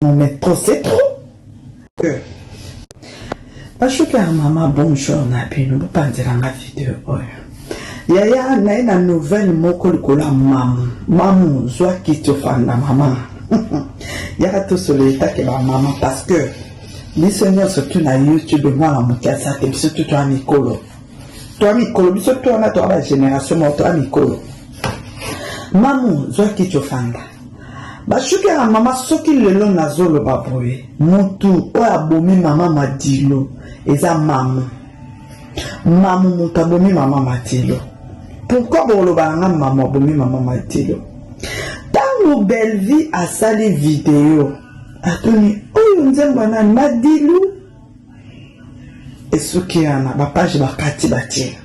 Non mais trop c'est trop. Euh. Bashuka mama bonjour na bino bopanzela nga video oyo oh. yaya naye na nouvelle moko likolo ya mamu mamu zwa kiti ofanda mama yaka tosolo etake bamama parce que biso nyonso tu na youtube mwana moke aza te biso tu toa mikolo toa mikolo biso tu wana toa bagénération moko toa mikolo mamu zwa kiti ofanda Bashuke na mama soki lelo nazoloba boye mutu oyo abomi mama madilo eza mamu mamu moto abomi mama madilo pourkui boloba na nga mamu abomi mama madilo ntango belvie asali video atuni oyo nzembo ya nani madilu esuki yana bapage bakati batie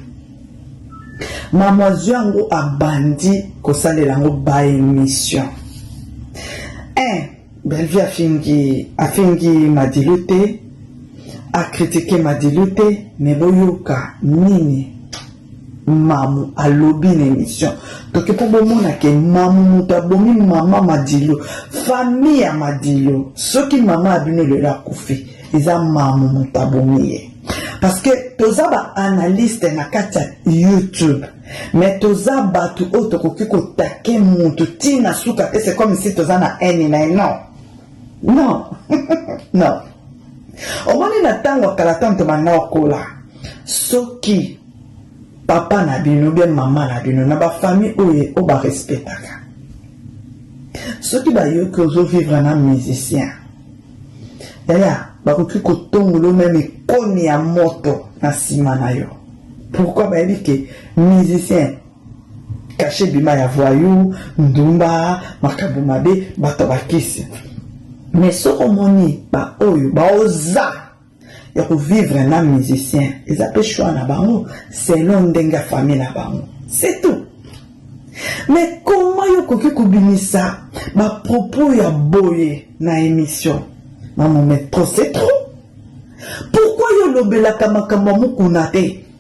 mamwazio yango abandi kosalela yango baemission un bellevie afingi afingi madilu te akritike madilu te me boyoka nini mamu alobi na émission toke mpo bomona ke mamu moto abomi mama madilo famille ya madilo soki mama ya bino lelo akufi eza mamu moto abomi ye parce que toza baanalyste na kati ya youtube mais toza bato oyo tokoki kotake motu ntina suka te c'est comme si toza na haine na ye non Non. non. omoni na ntango ya kala tanto banda okola soki papa na bino bia mama na bino na bafamille oyo oyo barespectaka soki bayoki ozovivre na musicien yaya bakoki kotongola yo meme ekoni ya moto na nsima na yo pourkui bayebi ke musicien kashe bima ya voyou ndumba makambo mabe bato ya bakisi me soki omoni baoyo baoza ya kovivre na musicien eza mpe choix na bango selon ndenge ya famille na bango c'est tout me koma yo okoki kobimisa bapropos ya boye na émission mamome trop c'est trop pourkui yo olobelaka makambo ya mokuna te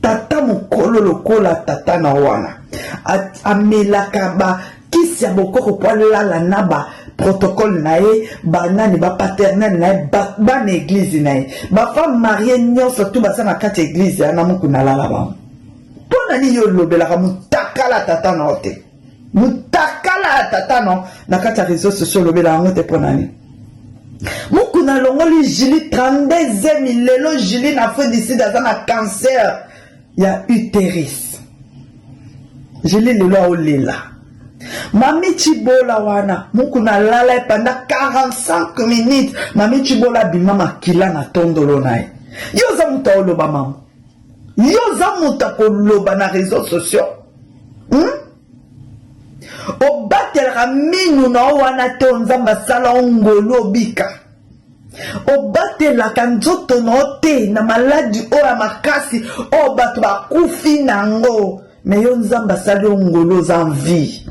tata mokolo lokola tata na wana amelaka ba kisi ya bokoko mpo alala na ba protocole na ye banani bapaternel na ye bana eglize na ye bafemme marie nyonso tu baza na kati ya eglize yana moku nalala bango mpo na nini olobelaka motakala tata na yo te mutakala ya tata no na kati ya réseau sociaux olobela yango te mpo nani mukuna alongoli jili 32 emi lelo jili na afrique du sud aza na cancer ya uteris jili lelo aolela mami cibola wana mukuna alala epanda 45 minutes mami cibola abima makila na tondolo na ye yo oza moto aoloba mango Yo oza moto ya koloba na reseau sociaux hmm? obatelaka minu na yo wana te o nzambe asala o ngolu obika obatelaka nzoto na yo te na maladi oyo ya makasi oyo bato bakufi na yango Mais yo nzambe asali yo ngolo oza en vie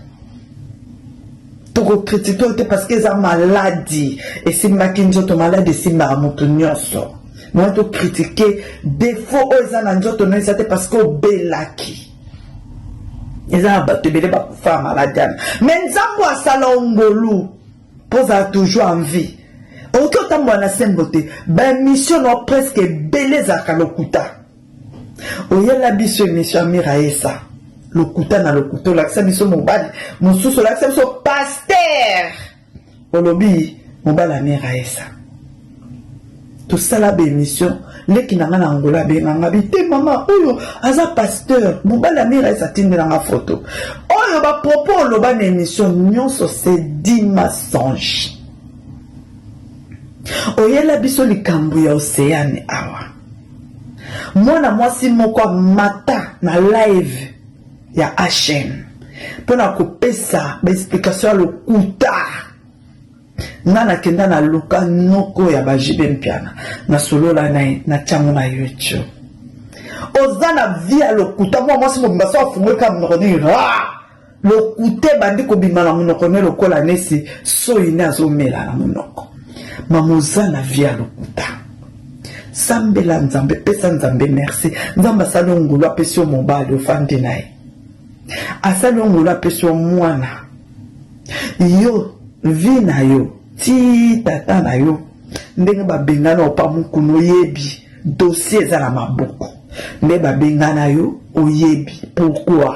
tokokritike oyo te parce que eza maladi esimbaki nzoto maladi esimbaka moto nyonso moi tokritike defaut oyo eza na nzoto no eza te parce que obelaki eza na bato ebele bakufa ya maladi wana mais nzambe asala ongolu mpo ozala toujours en vie okoki otambola na sembo te baemission nao presque ebele ezalaka lokuta oyela biso emission ya miraesa lokuta na lokuta olakisa biso mobali mosusu olakisa biso paster olobi mobali ya miraesa tosala baemission leki na ngai na angola abenganga bi te mama oyo aza pasteur mobali ya miraesa atindelanga foto oyo bapropos oloba na emission nyonso se di massange oyela biso likambo ya oceane awa Mwana mwasi moko amata na live ya HM pona kopesa ba explication ya lokuta. Nga nakenda na luka noko ya ba JB Mpiana na solola na ye na tiango na YouTube. oza na vie ya lokuta mwa mwasi mobimba so afungoli kaka monoko nini ra Lokuta ebandi kobima na monoko ne lokola nesi soyi ne azomela na monoko. Mama oza na vie ya lokuta. Sambela Nzambe, pesa Nzambe merci. Nzambe asali yo ngulu apesi yo mobali ofandi na ye. Asali yo ngulu apesi yo mwana. Yo vie na yo ti tata na yo ndenge babengana opa mokuna oyebi dossier eza na maboko nde babengana yo oyebi pourquoi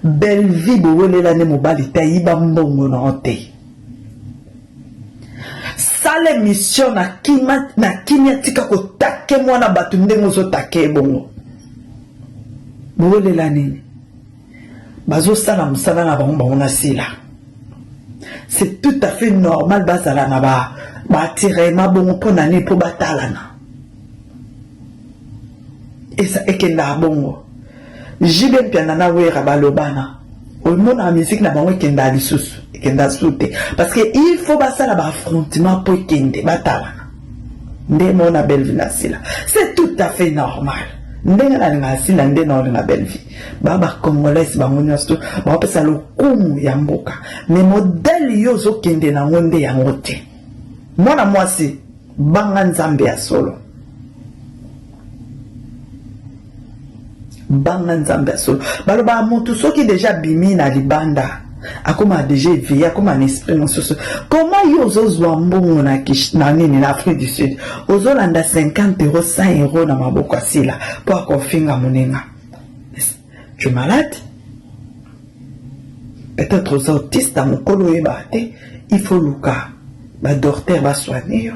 Bellevue bowelela nde mobali te ayiba mbongo na yo te sala emission na kima na kimia tika kotake mwana bato ndenge ozotake ye bongo bowelela nini bazosala mosala na bango bango na sila c'est tout à fait normal bazala na ba batirema bongo mpo na nini mpo batalana eza ekendaka bongo jibe mpiana na wera balobana omonaka miziki na bango ekendaka lisusu ekenda su te parce que il faut basala baaffrontement mpo ekende batalana nde mona belvi na sila c'est tout à fait normal ndenge nalingaka sila nde naolinga belvi ba bacongolais bango nyonso to baopesa lokumu ya mboka me modele yo ozokende nango nde yango te mwana mwasi Banga Nzambe ya solo. Banga Nzambe ya solo. Balobaka motu soki deja abimi na libanda akoma deja eveye akoma na esprit mosusu koma yo ozozwa mbongo na, na nini na afrique du sud ozolanda 50 euro 100 euro na maboko asila mpo akofinga moninga Tu es malade Peut-être aux autistes, à mon colo et barté, il faut louka. Ba docteur va soigner.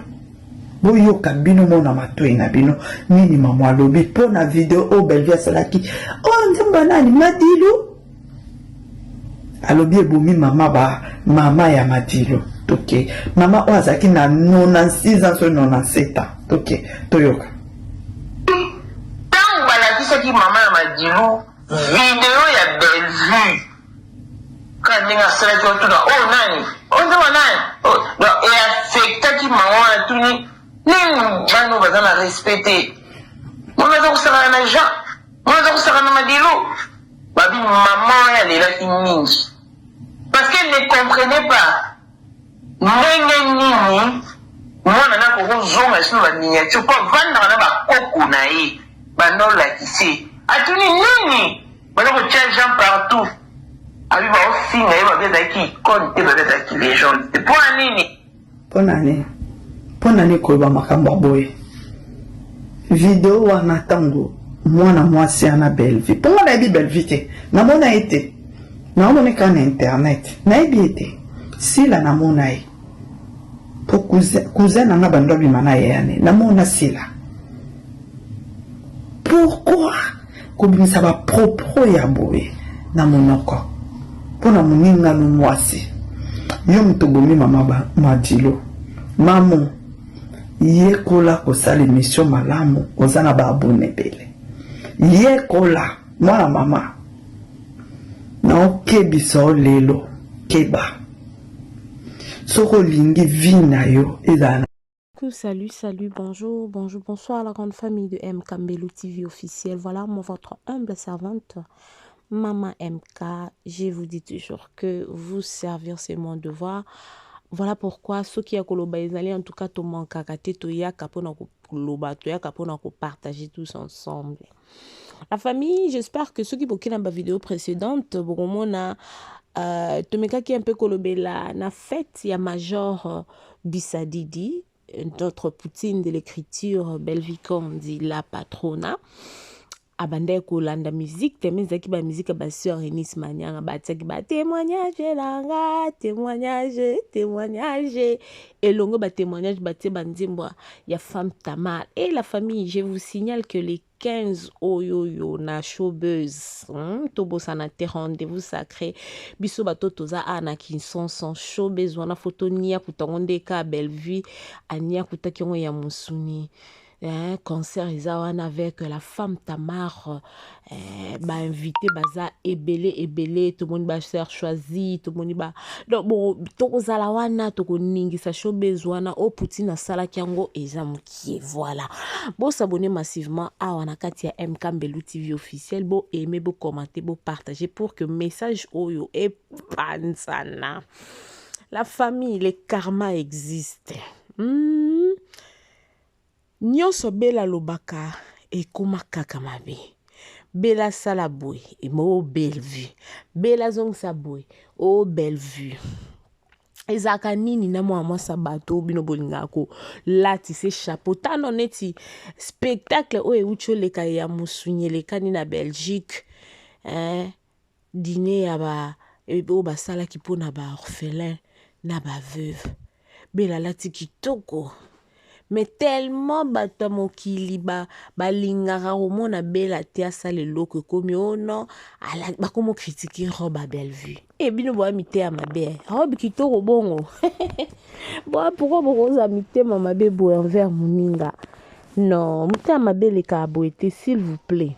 boyoka bino mona matoi na bino nini mamo alobi mpo na video oyo belvi asalaki o oh, nzambe ya nani madilu alobi ebomi mama ba mama ya madilu toke mama oyo azalaki na 96 ans soki 97 ans toke toyoka Tango balakisaki mama ya Madilu video ya Bellevue kaka ndenge asalaki otuna oyo nani oyo nde wa nani donc e affectaki mama wana tuni nini bana oyo baza na respect te mwana aza kosakana na Jean mwana aza kosakana na Madilu babi mama wana alelaki mingi parce qu'elle ne comprenait pas Ndenge nini mwana naye akoki ozonga lisusu na ba miniature po avandaka na ba koko naye banda olakisa ye atuni nini baza kotia jean partout abi baofinga ye babi azalaki icone te babi azalaki legende te pona nini pona nini pona nini koloba makambo ya boye video wana ntango mwana mwasi ana belvi mpo nga nayebi belvi te namona ye te Naomoni ka na internet nayebi ye te sila namona ye po cousin na nga bando abima na ye ane namona sila pourquoi kobimisa ba propos ya boye na monoko mpo na moninga no mwasi yo moto obomi mama madilo mamo yekola kosala emission malamu oza na baabone ebele yekola mwana mama naokebisa yo lelo keba soki olingi vi na yo ezala Coucou, salut, salut, bonjour, bonjour, bonsoir à la grande famille de MK Mbelou TV officiel. Voilà, moi, votre humble servante, Maman MK. Je vous dis toujours que vous servir, c'est mon devoir. Voilà pourquoi ceux qui a koloba ezali en tout cas to manquaka te to yaka pona ko loba to yaka pona ko partager tous ensemble. La famille, j'espère que ceux qui boki na ba vidéo précédente bokomona euh, tomekaki un peu kolobela na fête ya major euh, Bisadidi euh, notre poutine de l'écriture Bellevue Kondi la patrona abandaki kolanda musique te me ezalaki bamusike ya basœur enis manianga batiaki ba témoignage elanga témoignage témoignage elongo ba témoignage batie ba nzembo ya femme tamar et eh, la famille je vous signale que les 15 oyoyo na showbuzz hmm? tobosana te rendez-vous sacré biso bato toza a na kinsonson showbuzz wana foto niakuta yango nde ka bellevue aniakutaki yango ya mosuni hmm? eh, concert eza wana avec la femme tamar eh, bainvité baza ebele ebele tomoni bacher choisi tomoni ba donc bo tokozala wana tokoningisa showbiz wana oyo poutine asalaki yango eza mokie voilà bosabone massivement awa na kati ya mk mbelu tv officiel bo aime bocommante bopartage pour que message oyo epanzana la famille le karma existe hmm? Nionso bella alobaka ekoma kaka mabe bella sala boye oh bellevue bella zongisa boye oh bellevue ezalaka nini na mwana mwasi ya bato oyo bino bolingaka kolatise chapeau tano neti spectacle oyo euti oleka ya mosunyi elekani na belgique eh? diner ya ba oyo basalaki mpo na ba orphelins na ba veuves bela alati kitoko mais tellement bato ya mokili ba balingaka komona bela te asala eloko ekomi o oh non ala bakomi okritike robe ya bellevue e bino boya miteya mabe eh. robe kitoko bongo boya pourkua bokoza mitema mabe boye envers moninga non motema mabe elekaka boye te s'il vous plaît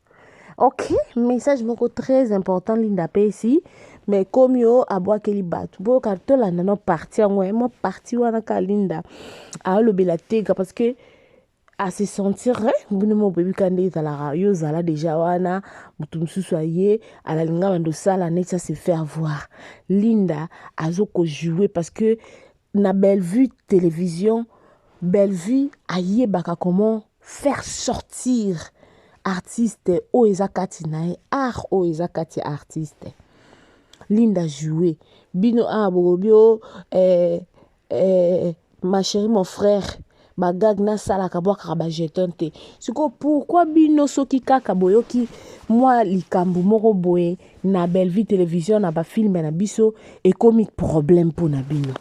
ok message moko très important linda apesi mais komi o abwakeli bato boyoka tolanda no parti yango eh, mwa parti wana ka linda alobela tega parce que ase sentir bino mo boyebi ka nde ezalaka yo ozala deja wana moto mosusu aye alalinga bando osala neti ase faire voir linda azokojoue parce que na Bellevue television Bellevue ayebaka comment faire sortir artiste oyo eza kati na ye art oyo eza kati ya artiste linda joue bino awa bokobio eh, eh, ma chérie mon frère ba gag na salaka bwakaka ba jeton te siko pourquoi bino soki kaka boyoki mwa likambo moko boye na bellevue television na bafilme na biso ekomi problème mpo na bino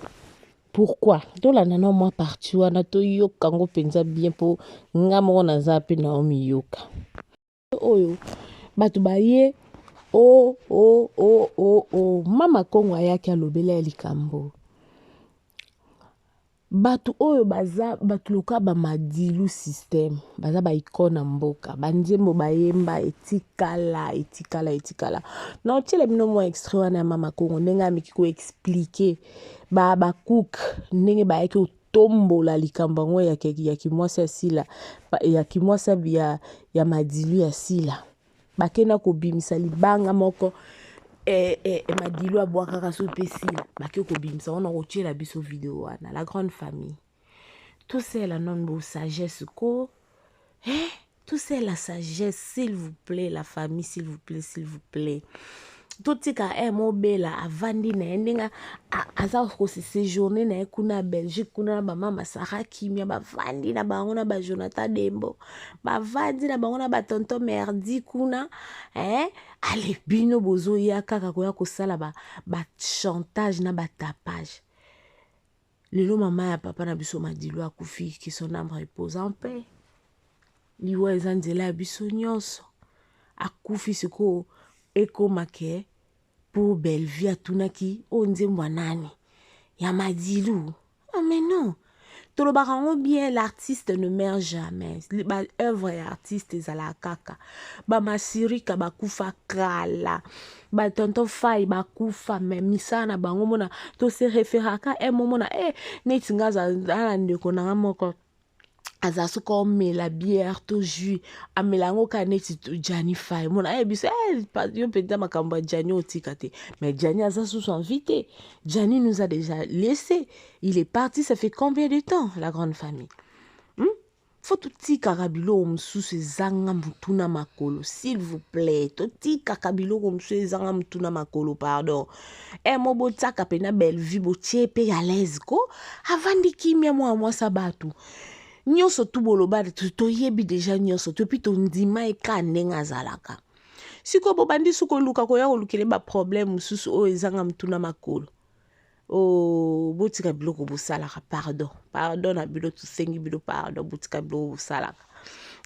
pourquoi tolanda na mwa parti wana toyoka yango mpenza bien mpo nga moko naza mpe naomiyoka oyo bato baye o o o o o mama kongo ayaki alobela ya likambo bato oyo baza bato loka bamadilu systeme baza baikone ya mboka banzembo bayemba etikala etikala etikala na otyela bino mwa extrait wana ya mama kongo ndenge ameki koexplike babacook ndenge bayaki tombola likambo yango ya, ya kimwasi ya Sila ya kimwasi ya, ya madilu ya Sila bakenda kobimisa libanga moko eh, eh, eh madilu abwakaka so mpe Sila bake kobimisa wana kotyela biso video wana la grande famille tout ça elanonbo sagesse ko eh? tout c'est la sagesse s'il vous plaît la famille s'il vous plaît s'il vous plaît totika eh, mobela avandi na ye ndenge aza kosejourne na ye kuna belgique kuna na bamama sara kimia bavandi na bango na bajonathan dembo bavandi na bango na batonton merdi kuna eh, ale bino bozoya kaka koya kosala bachantage ba na batapage Lelo mama ya papa na biso Madilu akufi, que son âme repose en paix. Liwa eza nzela ya biso nyonso. Akufi sikoyo ekoma ke pour Bellevue atunaki oyo nzembo ya nani? Ya Madilu. Ah mais non. Tolobaka yango bien l'artiste ne meurt jamais. Ba œuvre ya artiste ezalaka kaka. Ba masirika bakufa kala. Ba ba tonton fai bakufa me misala na bango mona tose referaka e momona e eh, neti nga aza na ndeko na nga moko aza soki omela bière to jus amela yango kaka neti jani fai mona aye eh, biso eh, yo mpenza makambo ya jani otika te mais jani aza susu envi te jani nous a déjà laissé il est parti ça fait combien de temps la grande famille hmm? faut totikaka biloko mosusu ezanga mutu na makolo s'il vous plaît totikaka biloko mosusu ezanga mutu na makolo pardon e mo botiaka mpe na bellevue botie mpe ya lese ko avandi kimia mwana mwasi ya bato nyonso tu boloba toyebi deja nyonso to epuis tondima ye kaka ndenge azalaka sikoyo bobandi su koluka koya kolukele baproblème mosusu oyo ezanga mutu na makolo Oh, botika biloko bosalaka pardon pardon na bino tosengi bino pardon botika biloko bosalaka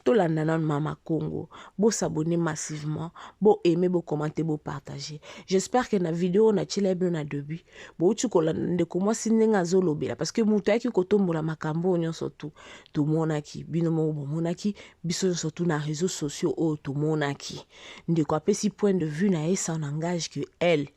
tolanda nanu mama congo bosabone massivement boaime bocommente bopartage j'espère que na video oyo natyela bino na debut bouti kolanda ndeko mwasi ndenge azolobela parce que moto ayaki kotombola makambo oyo nyonso tu tomonaki bino moko bomonaki biso nyonso tu na réseau sociaux oyo tomonaki ndeko apesi point de vue na ye sans langage que elle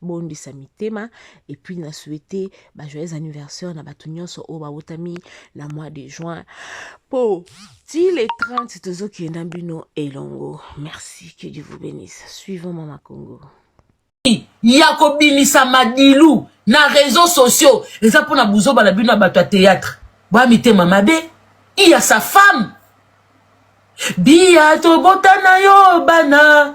bondisa mitema et puis na souhaiter ba joyeux anniversaire na bato nyonso oyo babotami na mois de juin po ti le 30 tozokenda bino elongo merci que dieu vous bénisse suivant mama congo ya kobimisa madilu na réseaux sociaux eza mpo na buzoba na bino na bato ya théâtre boya mitema mabe iya sa femme biya tobota na yo bana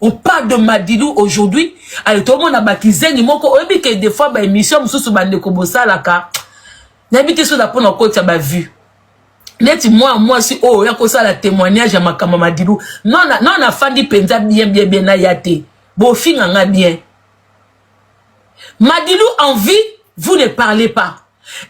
On parle de Madilu aujourd'hui. Alors, tout le monde a bakizeni moko. On dit que des fois, bah, émission, moussous, bah, ndeko bosalaka. N'habitez sur la pone en côte, ça m'a vu. neti mwa mwasi oyo oya kosala témoignage ya makambo madilu no nafandi mpenza bien bien bien naya te bofinga nga bien madilu en vie vous ne parlez pas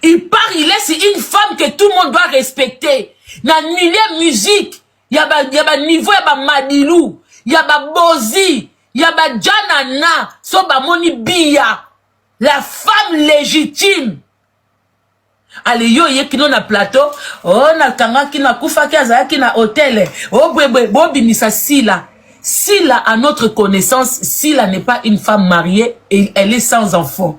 il part il laisse une femme que tout le monde doit respecter na milieu musique ya ba ya ba niveau ya ba madilu ya ba bozi ya ba janana so bamoni biya la femme légitime ale yo oye kino na plateau o oh, nakangaki nakufaki azalaki na hotele o oh, bwebwe bobimisa sila sila à notre connaissance sila n'est pas une femme mariée et elle est sans enfant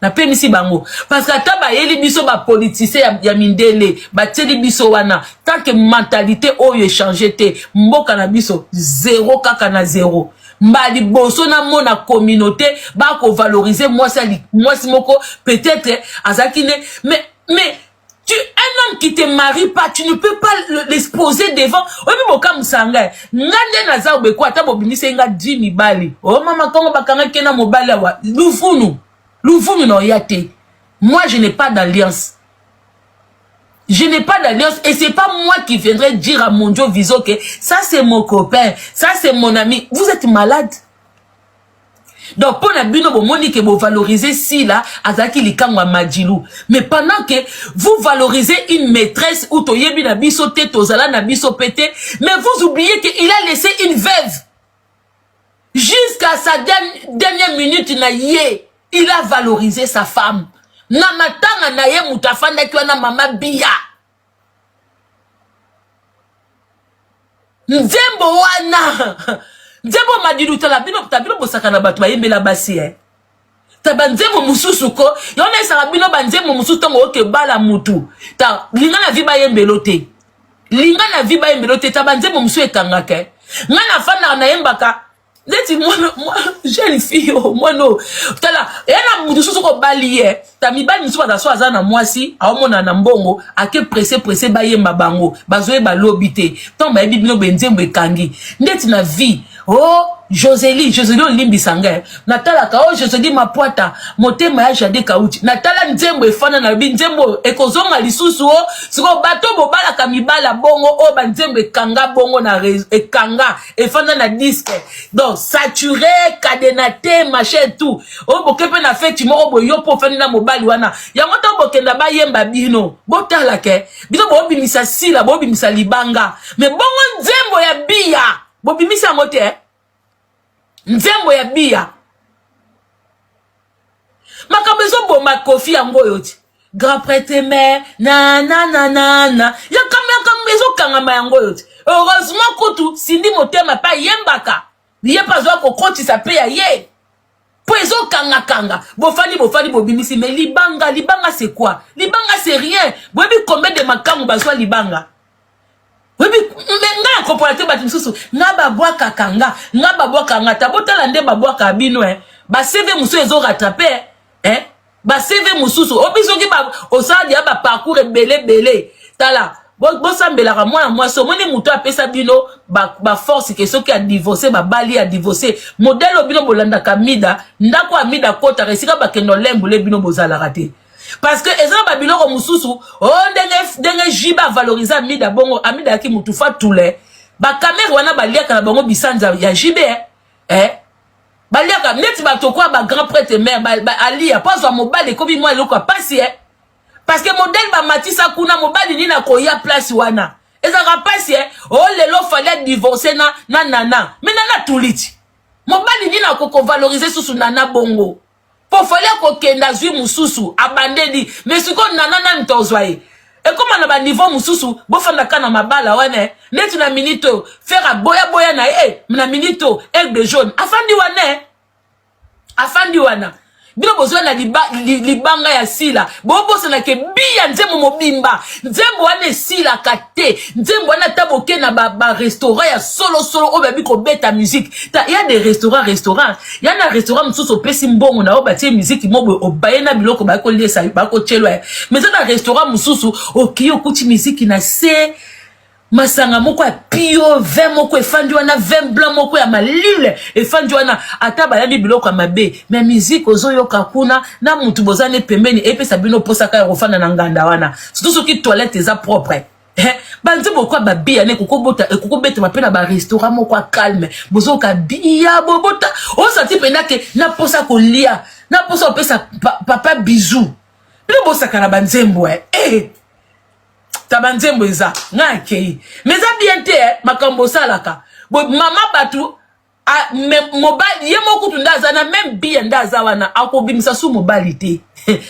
napemisi bango parce que ata bayeli biso bapolitisien ya, ya mindele batieli biso wana tant que mentalité oyo echange te mboka na biso zero kaka na zero mba liboso namona communauté bakovalorize mwasi mwasi moko peut-être azalaki nde mais mais tu un homme qui te marie pas tu ne peux pas l'exposer devant oyebi bokamwisa ngai nga nde naza obeko ata bobimisai nga di mibali o oh, mama kongo bakangaki ye na mobali awa luvunu luvunu na oya te moi je n'ai pas d'alliance Je n'ai pas d'alliance et c'est pas moi qui viendrai dire à mon Dieu Viso que ça c'est mon copain, ça c'est mon ami. Vous êtes malade. donc mpo na bino bomoni ke bovalorize sila azalaki likango ya madilu mais pendant ke vous valorisez une maîtresse ou toyebi na biso te tozala na biso mpe te mais vous oubliez ke il a laissé une veuve jusqu'à sa dernière minute na ye il a valorisé sa femme na matanga na ye moto afandaki wana mama biya nzembo wana nzembo madilu tala bino ta bino bosaka na bato bayembela basi eh. ta banzembo mosusu ko yango naesaka bino banzembo mosusu ntango oke bala motu ta linga na vi bayembelo te linga na vi bayembelo te ta banzembo mosusu ekangaka eh. ngai nafandaka nayembaka neti mwana jeune fille oyo mwana oyo tala eya na moto soso kobali ye ta mibali mosusu baza so aza na mwasi aomona na mbongo ake presse presse bayemba bango bazoyeba lobi te ntango bayebi bino benzembo ekangi ndeti na vie o oh, joseli joseli olimbisa ngai natalaka o oh, joseli mapwata motema ya jade kauti natala nzembo efana nalobi nzembo oyo ekozonga lisusu o oh. sikoyo bato bobalaka mibala bongo oyo banzembo ekanga bongo na ekanga efanda na disque donc sature cadenate machin tout oboke mpe na feti moko boye yo mpe ofandi na mobali wana yango ntango bokenda bayemba bino botala ke bino bobimisa sila bobimisa libanga me bongo nzembo ya biya bobimisa yango te nzembo ya biya makambo ezoboma kofi yango oyo ti grand prêtre me na na na na na yakambo yakambo ezokangama yango oyo ti heureusement kutu sindi motema mpe ayembaka ye mpe azwa kokotisa mpe ya ye mpo ezokangakanga bofandi bofandi bobimisi me libanga libanga c'est quoi libanga c'est rien boyebi combien de makango bazwa libanga oyebi me nga ya kopola te bato mosusu nga babwakaka nga nga babwaka nga ta botala nde babwaka bino e bacv mosusu ezo rattrape e bacv mosusu obi soki osala deya baparcours ebele ebele tala bosambelaka mwana mwasi omoni moto apesa bino baforce ke soki adivorce babali adivorce modele oyo bino bolandaka mida ndako ya mida akotaka esika bakenda olembole bino bozalaka te parce que eza na babiloko mosusu o oh, ndenge ndenge jibe avalorise amida bongo amida yaki motu fatule bakamere wana baliaka na bango bisanza ya jibe eh? eh? baliaka neti bato kwa bagrand prêtre mare ba, ba, aliya mpo azwa mobali ekomi mwa eloko ya mpasi eh? parce que modele bamatisa kuna mobali nini akoya place wana ezalaka mpasi eh? o oh, lelo fali adivorce na, na nana me nana tuliti mobali nini akokovalorize susu nana bongo po fale akokende azwi mosusu abandeli me sikoyo nana nani tozwa ye ekóma na baniveau mosusu bofandaka na mabala wana neti na minute oyo fere aboyaboya na ye na minute oyo aigle jaune afandi wana afandi wana bino bozwa na liba, li, libanga ya sila bobosanake biya nzembo mobimba nzembo wana esilaka te nzembo wana ata boke na barestaurant ba ya solosolo oyo babi kobeta musike ya de restaurant restaurant ya na restaurant mosusu opesi mbongo na yo batie musiki mo boye obaye na biloko baye koliesa bakotyelwa ye mais eza na restaurant mosusu okei okuti miziki na se masanga moko ya pio vin moko efandi wana vin blanc moko ya malile efandi wana ata balambi biloko ya mabe me miziki ozoyoka kuna na motu boza ne pembeni epesa bino mposaka ya kofanda na nganda wana surtout soki toilette eza propre eh, banze bokoa babiya ne ekokobetama mpe na barestaurant moko ya calme bozoka biya bobota osati mpenza ke naposa kolia naposa kopesa papa bizu mpe bosaka na banzembo eh. eh. ta banzembo eza ngai akei ma eza bien te eh, makambo osalaka mama bato Ah, mobali ye moko kutu nde aza na meme biye nde aza wana akobimisa su mobali te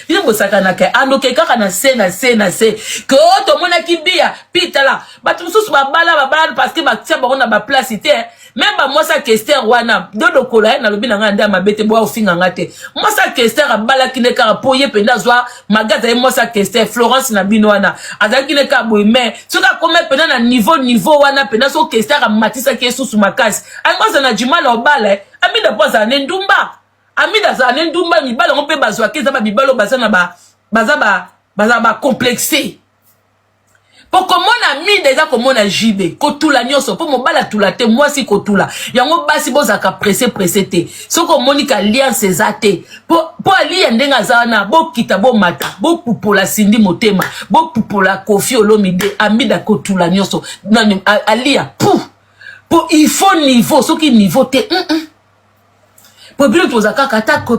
bino bosakanaka andoke kaka na se na se na se ke o oh, tomonaki biya pi tala bato mosusu babala babala parceke batia bango na baplace te meme bamwasi ya kester wana dodokola ye nalobi na ngai nde ya mabe te boya ofinga ngai te mwasi ya kester abalaki nde kaka mpo ye mpenza azwa malgre azali mwasi ateste florence na bino wana azalaki ne kaka boye mai soki akomi mpena na niveau niveau wana mpena soki keste akamatisaki esusu makasi alingi azala na jimala obala eh. amida mpo azala ne ndumba amida azala ne ndumba mibala yango mpe bazwaki eza bamibala oyo baza na ba baza ba baza bacomplexe po komona mida eza komona jibe kotula nyonso po mobali atula te mwasi kotula yango basi bozalaka presse presse te soki omoni ka alliance eza te po, po aliya ndenge aza wana bokita bomata bopupola sindi motema bopupola kofi olomide amida kotula nyonso nani aliya pu po il faut niveau soki niveau te mm -mm. po bino tozalaka kaka ata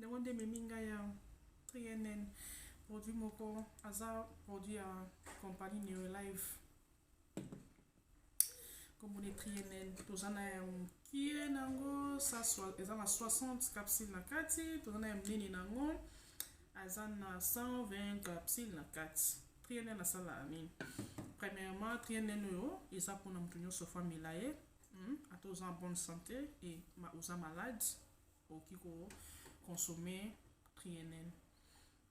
Yango nde ememi ngai ya trienn produit moko aza produit ya compagnie neolive kombo ne trienn toza na ya mokie na yango eza na 60 capsule na kati toza na ya monene na yango aza na 120 capsule na kati trienn asalaka nini premièrement trienn oyo eza mpona moto nyonso famila ye hmm? ata oza en bonne santé e oza malade Okoki ko consommer PNL.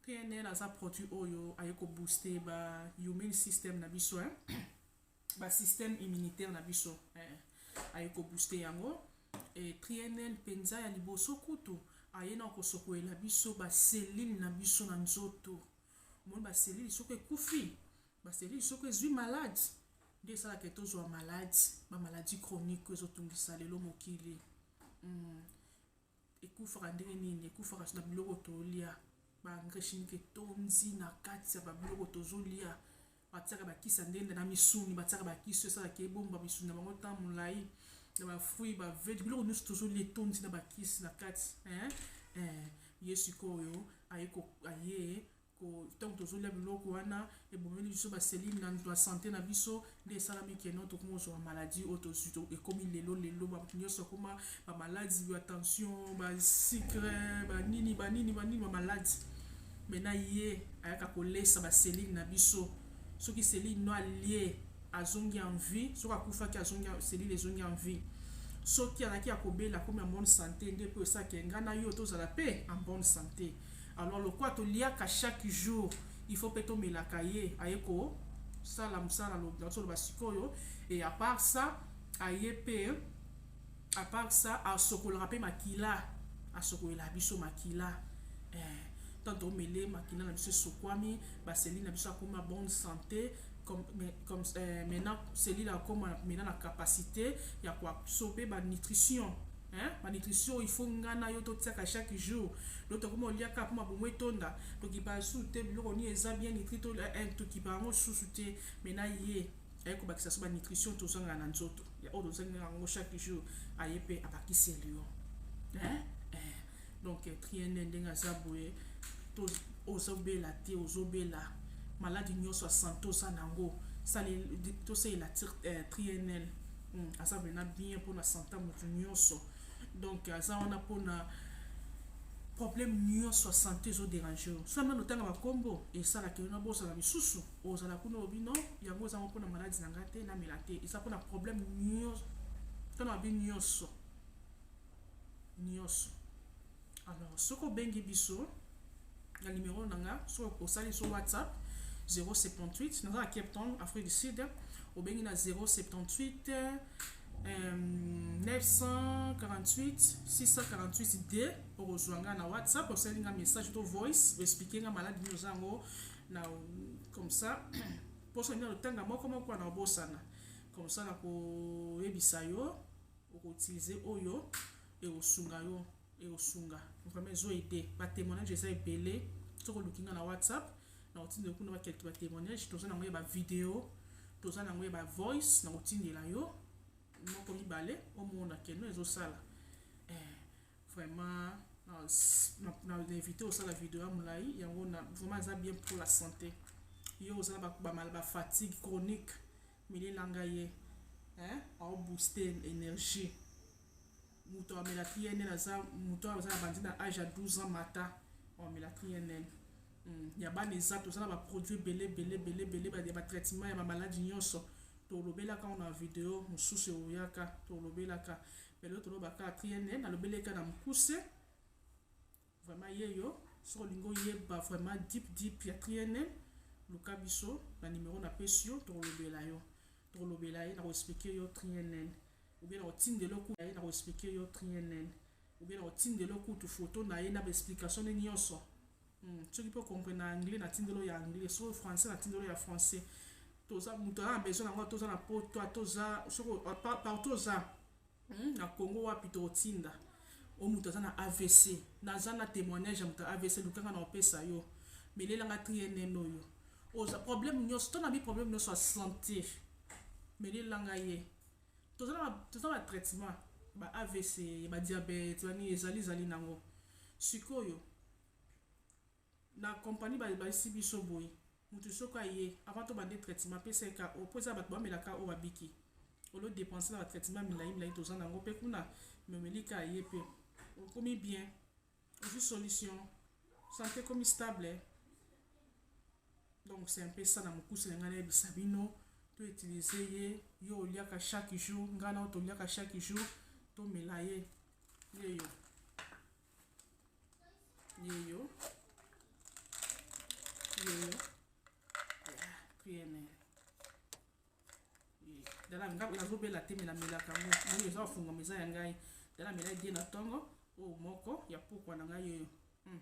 PNL aza produit oyo aye ko booster ba immune system na biso hein. ba système immunitaire na biso eh. aye ko booster yango e PNL mpenza ya liboso kutu aye na kosokolela biso ba cellule na biso na nzoto omoni ba cellule soko ekufi ba cellule soko ezwi malade nde esalaka tozwa malade ba maladie chronique ezotungisa lelo mokili ekufaka ndenge nini ekufaka na biloko tolia ba engrais chimique etondi na kati ya babiloko tozolia batiaka bakisi ya ndenge na misuni batiaka bakisi esalaka ebomba misuni na bango ntango molai na bafruit bavege biloko nyonso tozolia etondi na bakisi na kati eh, eh, ye sikoyo aye ntango tozolia biloko wana ebomeli biso baselile na nto ya sante na biso nde esalami keno tokomi kozwa bamaladi oyo tozwi ekomi lelo lelo bato nyonso akoma bamaladi ya tension basikre banini banini banini bamaladi me na ye ayaka kolesa baselile na biso soki selile no alie azongi en vie soki akufaki azongi selile ezongi en vie soki azalaki ya kobela akomi en bonne sante nde mpo esaki engai na yo tozala mpe en bonne sante Alors lokola toliaka chaque jour, il faut pe tomelaka ye aye ko sala musala na solo basikoyo et à part ça aye pe à part ça asokolaka pe makila asokolela biso makila eh, tant tomele makila na biso esokwami baseli na biso akoma bonne santé comme, mais, comme euh, maintenant selile akoma maintenant na capacité ya koabsorbe banutrition Hein? Ba nutrition il faut nga na yo totiaka chaque jour. Donc tokoma oliaka poma bomo etonda, tokipa su te biloko ni eza bien nitri to eh, eh, tokipa yango susu te mais na ye aye kobakisa so ba nutrition tozanga na nzoto ya oyo tozangi yango chaque jour aye mpe abakisi elio hein? eh. donc eh, triene ndenge aza boye to ozobela te ozobela maladi nyonso ya sante oza nango tosalela eh, trienel Hmm, aza mena bien mpona santa motu nyonso donc aza wana mpona problème nyonso ya sante ezoderange yo so nano otanga bakombo esalaka yo na bozala misusu ozala kuna obi no yango ezango mpona maladi na ngai te namela te eza mpona problème nyonso mpona babi nyonso nyonso Alors, soki obengi biso na numero na nga, soki osali so WhatsApp 078 naza na Cape Town, Afrique du Sud, obengi na 078 euh, 948 648 d okozwa nga na WhatsApp, osali nga message to voice, oexplike nga maladi nini oza yango na comme ça mposo nini otanga moko moko na obosana comme ça nakoyebisa yo oko utiliser oyo ekosunga yo ekosunga vraiment ezo aide ba témoignage eza ebele soki oluki nga na whatsapp nakotindela kuna bakelke ba témoignage toza nango ya ba video toza nango ya ba voice nakotindela yo moko mibale omona keno ezosala eh, vraiment na invité osala video ya molai yango na vraiment eza bien pour la santé yo oza na bafatigue chronique Meli na nga ye eh au booster energie mutu amela PNL aza mutu aza na bandi na âge ya 12 ans mata amela PNL hmm, ya bana eza toza na ba produits bele bele bele bele ba ba traitement ya ba maladies nyonso tolobelaka ngo na video mosusu euyaka tolobelaka mais lelo tolobaka PNL nalobeleka na mokuse Vraiment yeyo soki olingi oyeba vraiment deep deep ya triene luka biso na numero na pesi yo tokolobela yo tokolobela ye na koexplike yo triene ou bien na kotindela okuta ye na koexplike yo triene ou bien na kotindela okutu foto na ye na baexplication ne nyonso hmm. soki mpe okomprene na anglais na tindelo ya anglais soki français na tindelo ya français toza moto aza na besoin yango toza na poto toza soki partout oza Hum na Congo wapi toko tinda o mutu aza na avc naza na temoignage ya mutu avc luka nga na opesa yo melela nga trienne oyo oza problème nioso to na bi problème nioso ya santé melela nga ye toza na toza na traitement ba avc ba diabète bani ezali zali nango sikoyo Na company ba bayisi biso boye mutu soki aye avant to bande traitement apesa ye KO po eza batu ba mela KO ba biki au lieu depense na ba traitement milayi milayi toza na ngo pe kuna mais omeli ka ye pe okomi bien ozui solution sante ekomi stable donc c'est un peu ça na mukuse na ngai na yebisa bino to utiliser ye yo oliaka chaque jour ngai na yo toliaka chaque jour to mela ye yeyo yeyo yeyo pnl dala nazobela te melamelaka yango oyo eza ofungama eza ya ngai dala mela die na ntongo oyo moko ya pokwa na ngai yeyo hmm.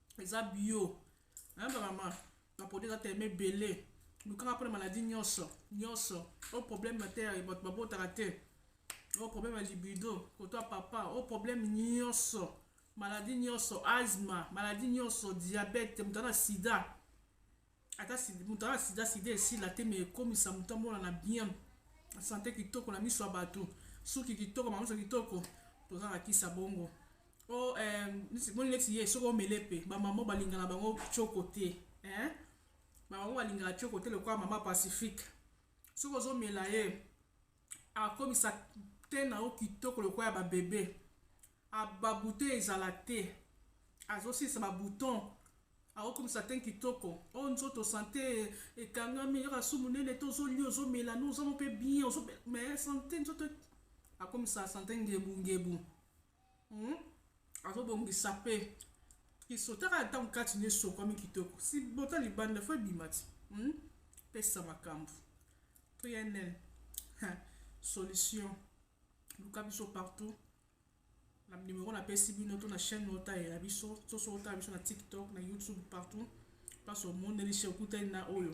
eza bio hein ba maman ba produit eza tellement ebele lukanga mpona maladie nyonso nyonso o oh, problème ya te ya bato babotaka te o oh, problème ya libido koto ya papa o oh, problème nyonso maladie nyonso asma maladie nyonso diabète moto na sida ata moto aa sida sida esila te me ekomisa moto amonana bien sante kitoko na miso ya bato suki kitoko bamiso kitoko toza na kisa bongo o oh, eh, moni neti ye soki omele mpe bamama balinga na bango coko te eh? bamama balingaka coko te lokola mama pacifique soki ozomela ye akomisa te na yo kitoko lokola ya babebe babute ezala te azosilisa babouton Azo komisa teint kitoko. Oh nzoto sante ekangami kaka su munene te ozo lia ozo mela no oza pe bien ozo mais sante nzoto akomisa sante ngebu ngebu. Hmm? Azo bongisa pe kiso taka ntango kati ne sokwami kitoko. Si bota libanda fo ebima ti. Hmm? Pesa makambo. PNL. solution luka biso partout Na numero na pesi bino to na chaîne oyo talela biso to soki otala biso na TikTok, na YouTube partout place omoneli chez okutani na oyo.